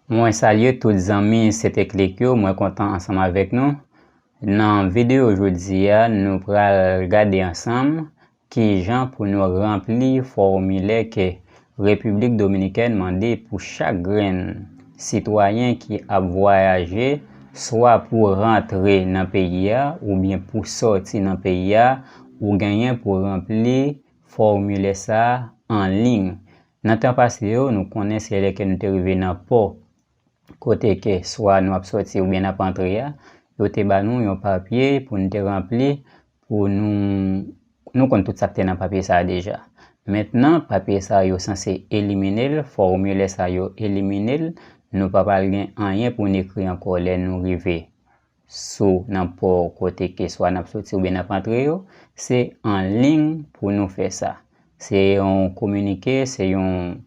Mwen salye tout zanmi Seteclic yo, mwen kontan ansanm avèk nou. Nan videyo jodi a, nou pral gade ansanm ki jan pou nou ranpli fòmilè ke Repiblik Dominikèn mande pou chak grenn sitwayen ki ap vwayaje swa pou rantre nan peyi a oubyen pou sòti nan peyi a, ou genyen pou ranpli fòmilè sa anliy. Nan tan pase yo, nou konnen se lè ke nou te rive nan pò kote ke swa nou ap sòti oubyen nap antre a, yo te ba nou yon papye pou nou te ranpli pou nou, nou konn tout sak te nan papye sa a deja. Mentnan, papye sa a yo sanse elimine l, fòmilè sa a yo elimine l, nou pa pral gen anyen pou n ekri ankò lè nou rive. sou nan pò kote ke swa nap soti oubyen nap antre yo, se an ling pou nou fè sa. Se yon kominike, se yon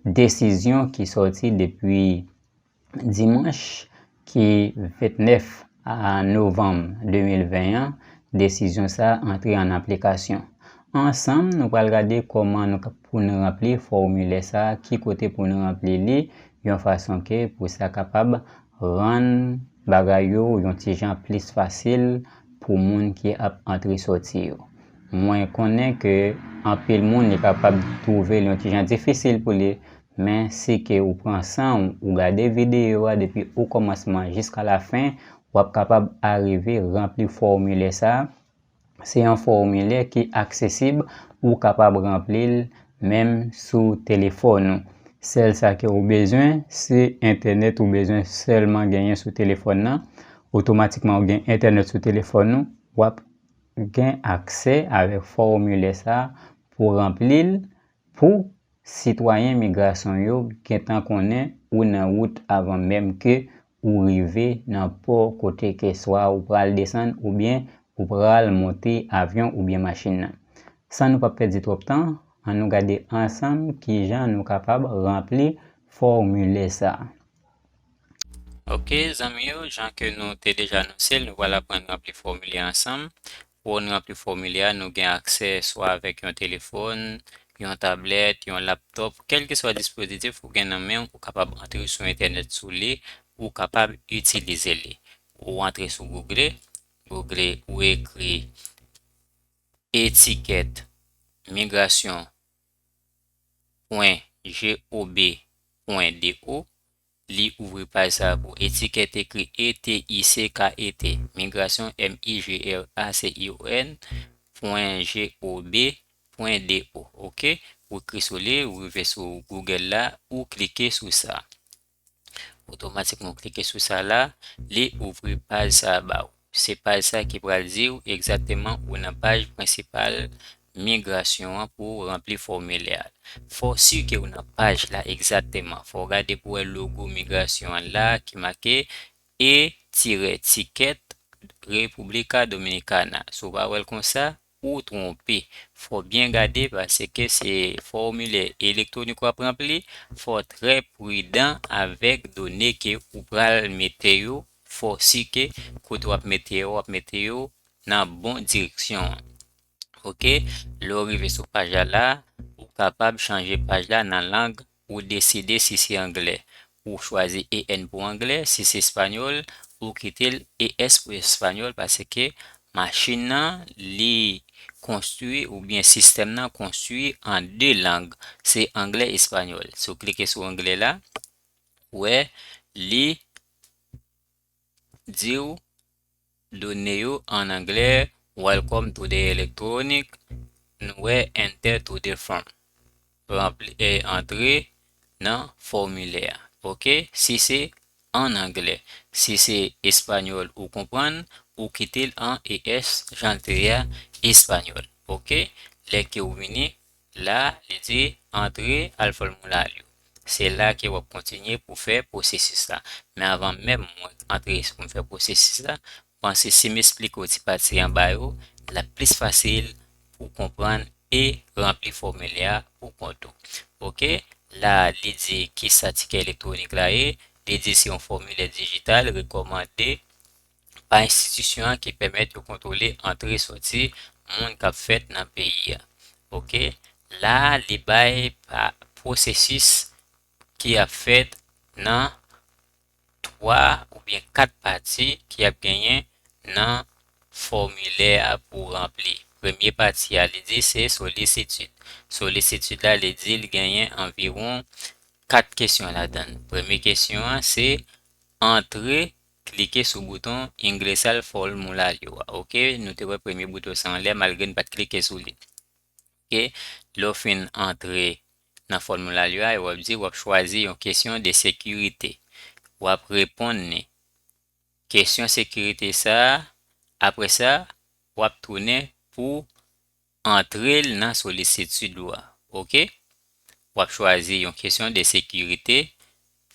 desizyon ki soti depi dimanch ki 29 novanm 2020 an, desizyon sa antre an aplikasyon. Ansanm nou pral gade kòman nou kap pou nou ranpli fòmilè sa, ki kote pou nou ranpli li, yon fason ke pou sa kapab Rann bagay yo yon ti jan plis fasil pou moun ki ap antre soti yo. Mwen konnen ke anpil moun li kapab twouve l yon ti jan difisil pou li, men si ke ou pran san w ou gade videyo a depi okòmansman jiska lafen, w ap kapab arive ranpli fòmilè sa, Se yon fòmilè ki aksesib, ou kapab ranpli l menm sou telefòn ou. Sèl sa ke ou bezwen, se entènèt ou bezwen sèlman genyen sou telefòn nan. Otomatikman ou gen entènèt sou telefòn ou, w ap gen aksè avèk fòmilè sa a pou w ranpli l pou sitwayen migrasyon yo gentan konnen ou nan wout avan menm ke ou rive nan pò kote ke swa ou pral desann oubyen ou pral monte avyon oubyen machin nan. San nou pa pèdi twòp tan, an nou gade ansanm kijan nou kapab ranpli fòmilè sa a. Ok zanmi yo, jan ke nou te deja anonse l, nou pral aprann ranpli fòmilè ansanm. Pou n ranpli fòmilè a, nou gen aksè swa avèk yon telefòn, yon tablèt, yon laptòp, kèlkeswa dispozitif ou gen nan men w, ou kapab antre sou entènèt sou li, ou kapab itilize li. Ou antre sou Google, Google ou ekri etikèt migration pwen GOB pwen DO, Li ouvri paj sa a pou etikèt ekri ETICKET, Migrasyon M-I-G-R-A-C-I-O-N, pwen G-O-B, pwen D-O. Ok. Ou kri sou li, ou rive sou Google la, ou klike sou sa. Otomatikman ou klike sou sa la, li ouvri paj sa a ba ou. Se paj sa ki pral di w egzakteman ou nan paj prensipal migrasyon an pou w ranpli fòmilè a. Fò w si ke w nan paj la egzakteman. Fò w gade pou w wè logo migrasyon an la ki make e-ticket República Dominicana. Si w pa wè l konsa, Ou twonpe. Fò w byen gade paske se fòmilè elektwonik w ap ranpli, fò w trè pridan avèk done ke ou pral mete yo, fò w si ke kote w ap mete yo, w ap mete yo nan bon direksyon an. Ok, lè w rive sou paj la la, ou kapab chanje paj la nan lang Ou deside si se anglè, ou chwazi EN pou anglè, si se espanyòl, ou kite l ES pou espanyòl paske machin nan li konstwi oubyen sistèm nan konstwi an 2 lang, se anglè, espanyòl. Si w klike sou anglè la, wè li. diw done yo an anglè welcome to the electronic nou wè enter to the form ranpli e antre nan fòmilè a ok si se an anglè si se espanyòl ou konprann ou kitel an es janl te ye a espanyòl ok lè kew vini La, li di, Antre, al fè w moulay yo. Se la ke w ap kontinye pou w fè pwosesis la. Men anvan menm mwen antre pou m fè pwosesis la, m panse si m esplike w ti pati anba yo, l ap plis fasil pou w konprann e ranpli fòmilè a pou kont ou. Oke. La, li di, Kisa tikè elektwonik la ye? Li di, Se yon fòmilè dijital rekòmande. pa enstitisyon an ki pèmèt yo kontwole antre soti moun kap fèt nan peyi a ok la li bay pa pwosesis ki ap fèt nan 3 oubyen 4 pati ki ap genyen nan fòmilè a pou ranpli premye pati a li di se solisitid solisitid la li di li genyen anviwon 4 kesyon ladann premye kesyon an se antre Klike sou bouton Ingressal Formulario a ok nou te wè premye bouton sa anlè malgre n pat klike sou li ok lè w fin antre nan formulario a epi wap di wap chwazi yon kesyon de sekirite wap reponn li kesyon sekirite sa apresa wap tounen pou Antrel nan solisitid ou a ok. Wap chwazi yon kesyon de sekirite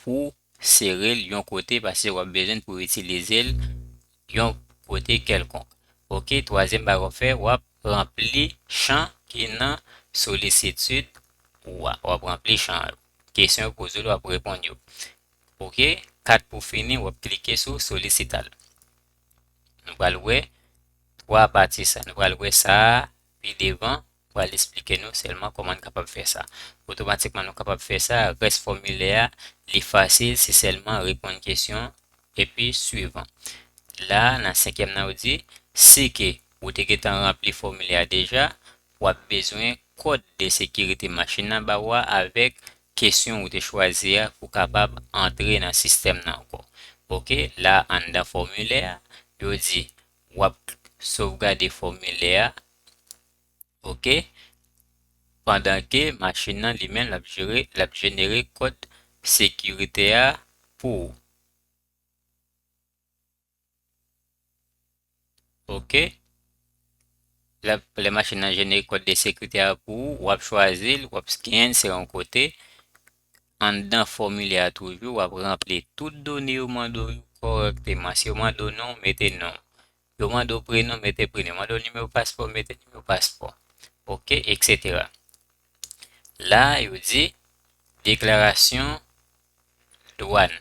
pouw serel yon kote pase wap bezwenn pouw itilizel yon kote kelkonk ok. Twazyèm bagay wap fè wap ranpli chan ki nan solisitid ou a wap ranpli chan yo kesyon yo pozew la wap reponn yo ok. 4 pou fini wap klike sou solisital. Nou pral wè 3 pati sa. Nou pral wè sa pi devan. M pral esplike nou sèlman kòman n kapab fè sa. Otomatikman nou kapab fè sa. Rès fòmilè a, li fasil. Se sèlman reponn kesyon epi swiv an. La a, nan senkyèm nan, yo di, si ke ou te gentan ranpli fòmilè a deja, w ap bezwen kòd de sekirite machin nan ba ou a avèk kesyon ou te chwazi a pou kapab antre nan sistèm nan ankò ok la anndan fòmilè a yo di wap sovgade fòmilè a ok pandan ke machin nan li menm lap jere lap jenere kòd sekirite a pou ou. Ok. Lè, lè machin nan jenere kòd de sekirite a pou ou, wap chwazi l, wap scann se yon kote. Anndan fòmilè a toujou, wap ranpli tout done yo mande w yo kòrèkteman. Si yo mande w non, mete non. Yo mande w prenon, mete prenon. Yo mande w nimewo paspò, mete nimewo paspò. Ok, eksetera. La, yo di, deklarasyon. dwàn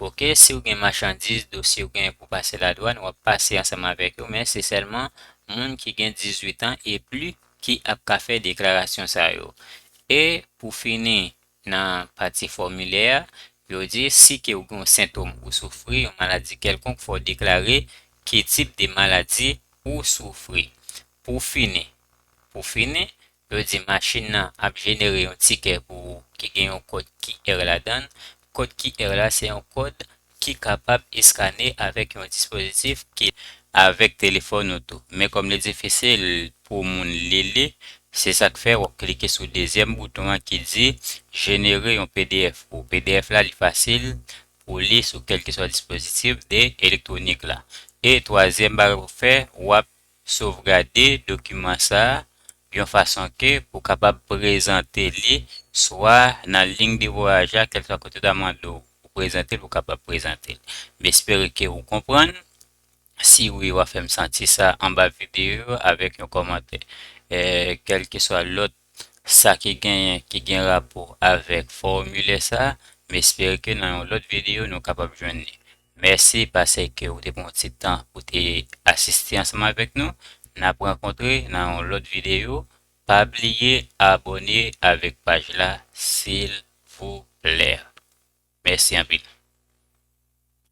ok siw gen machandiz dosye ou gen pou pase la dwàn wap pase ansanm avèk yo men se sèlman moun ki gen 18 an e pli ki ap ka fè deklarasyon sa yo e pou fini nan pati fòmilè a yo di si ke ou gen yon sentom ou soufri yon maladi kèlkonk fòw deklare ki tip de maladi ou soufri pou fini pou fini Yo di machin nan ap jenere yon tikè pou ou ki gen yon kòd QR ladan l. Kòd QR la se yon kòd ki kapab eskane avèk yon dispozitif ki. Avèk telefòn ou tou. Men kòm li difisil pou moun li li, se sa k fè w ap klike sou dezyèm bouton an ki di Jenere yon pdf pou ou. Pdf la li fasil pou li sou kèlkeswa dispozitif de elektwonik la. E twazyèm bagay pou w fè, w ap Sovgade dokiman sa a yon fason ke pou kapab prezante li swa nan lign de vwayaj la kèlkeswa kote yo ta mande w pou prezante l ou kapab prezante l. M espere ke ou konprann. Si wi w a fè m santi sa anba videyo avèk yon kòmantè. Kèlkeswa lòt sa ki genyen ki gen rapò avèk fòmilè sa m espere ke nan yon lòt videyo nou kapab jwenn li mèsi pasekew te pran yon ti tan pou te asiste ansanm avèk nou nap rankontre nan yon lòt videyo pa bliye abòne avèk paj la silvouplè mèsi anpil.